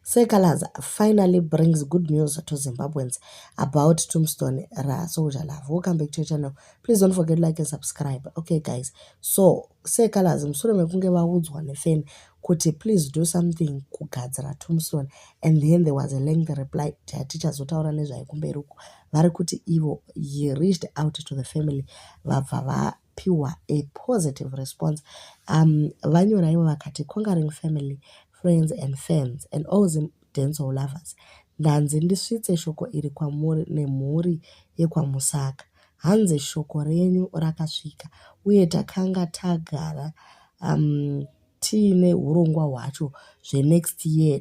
Sir Calaz finally brings good news to Zimbabweans about Tombstone ra Soldier Love. Welcome back to your channel. Please don't forget like and subscribe. Okay guys, so Sir Calaz mushure mekunge vaudzwa nefeni kuti please do something kugadzira tombstone and then there was a lengthy reply tichazotaura nezvayo kumberi uko vari kuti ivo he reached out to the family vabva va pihwa a positive response um vanyora ivo vakati conquering family friends and fans and all zim dancehall lovers ndanzi ndisvitse shoko iri kwamuri nemhuri yekwamusaka hanzi shoko renyu rakasvika uye takanga tagara um tiine urongwa hwacho zvenext year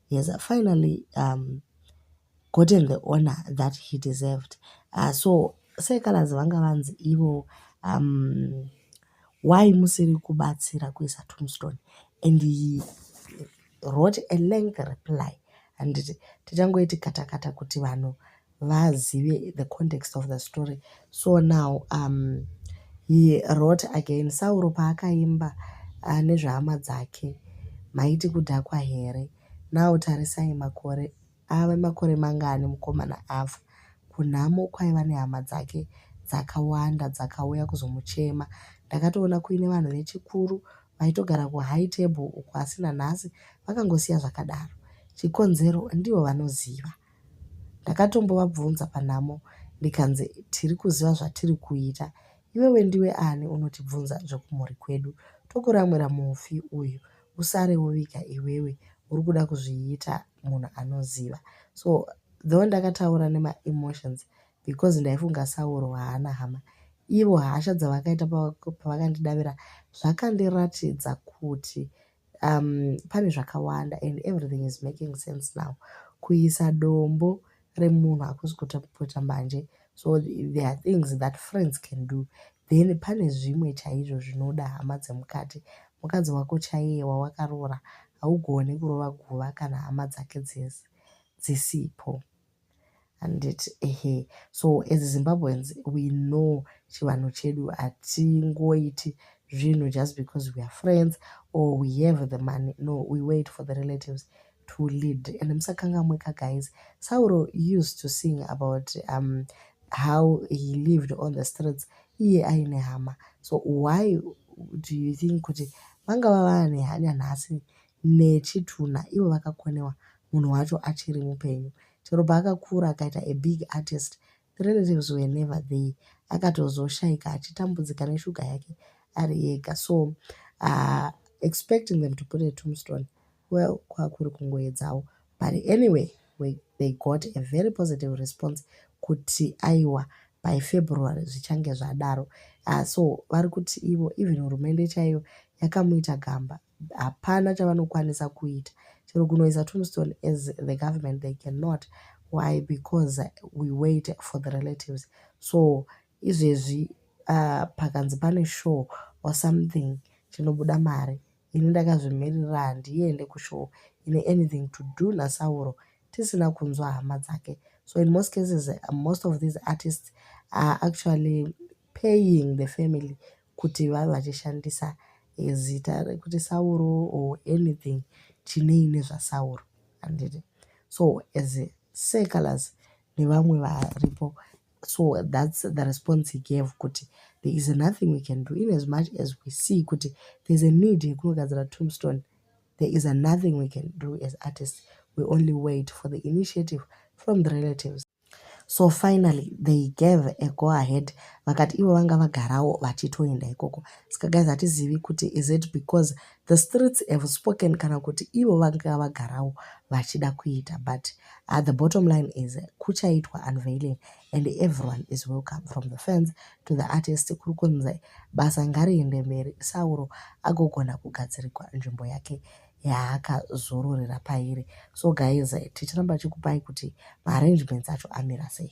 he has finally um, gotten the honor that he deserved uh, so sekalaz vanga vanzi ivo um, why musiri kubatsira kuisa tombstone and he wrote a length reply handiti tichangoiti katakata kuti vanhu vazive the context of the story so now um, he wrote again sauro paakaimba uh, nezvehama dzake maiti kudhakwa here now tarisai makore ave makore mangani mukomana ava kunhamo kwaiva nehama dzake dzakawanda dzakauya kuzomuchema ndakatoona kuine vanhu vechikuru vaitogara kuhigh table uko asi nanhasi vakangosiya zvakadaro chikonzero ndivo vanoziva Ndakatombovabvunza panhamo ndikanzi tiri kuziva zvatiri kuita. Iwewe ndiwe ani unotibvunza zvekumhuri kwedu? Tokuramwira mufi uyu usare woviga iwewe uri kuda kuzviita munhu anoziva. So though ndakataura nemaemotions because ndaifunga Sauro haana hama. Ivo hasha dzavakaita pavakandidavira zvakandiratidza kuti um, pane zvakawanda and everything is making sense now kuisa dombo remunhu hakusi kutapota manje so there are things that friends can do then pane zvimwe chaizvo zvinoda hama dzemukati mukadzi wako chaiye wawakaroora haugone kurova guva kana hama dzake dzese dzisipo handiti ehe so as zimbabweans we know chivanhu chedu hatingoiti zvinhu just because we are friends or we have the money no we wait for the relatives to lead and musakangamweka guys sauro used to sing about um, how he lived on the streets iye aine hama so why do you think kuti vangava vane hanya nhasi nechitunha ivo vakakonewa munhu wacho achiri mupenyu chero paakakura akaita a big artist the relatives were never there akatozoshaika achitambudzika neshuga yake ari ega so uh, expecting them to put a tombstone well kwakuri kungoedzawo but anyway we, they got a very positive response kuti aiwa by february zvichange zvadaro uh, so vari kuti ivo even hurumende chaiyo yakamuita gamba hapana chavanokwanisa kuita chero kunoisa tombstone as the government they cannot why because we wait for the relatives so izvezvi uh, pakanzi pane show or something chinobuda mari ini ndakazvimirira handiende kushow ine anything to do nasauro tisina kunzwa hama dzake so in most cases most of these artists are actually paying the family kuti vave vachishandisa zita rekuti Sauro or anything chinei nezvaSauro handiti so as secolors nevamwe varipo so that's the response he gave kuti there is nothing we can do in as much as we see kuti there's a need yekunogadzira tombstone there is nothing we can do as artists we only wait for the initiative from the relatives So finally they gave a go ahead vakati ivo vanga vagarawo vachitoenda ikoko. Saka guys hatizivi kuti is it because the streets have spoken kana kuti ivo vanga vagarawo vachida kuita but uh, the bottom line is kuchaitwa unveiling and everyone is welcome from the fans to the artist kuri kunzi basa ngariende mberi sauro agogona kugadzirikwa nzvimbo yake yaakazororera pairi so guys tichiramba chikupai kuti maarrangements acho amira sei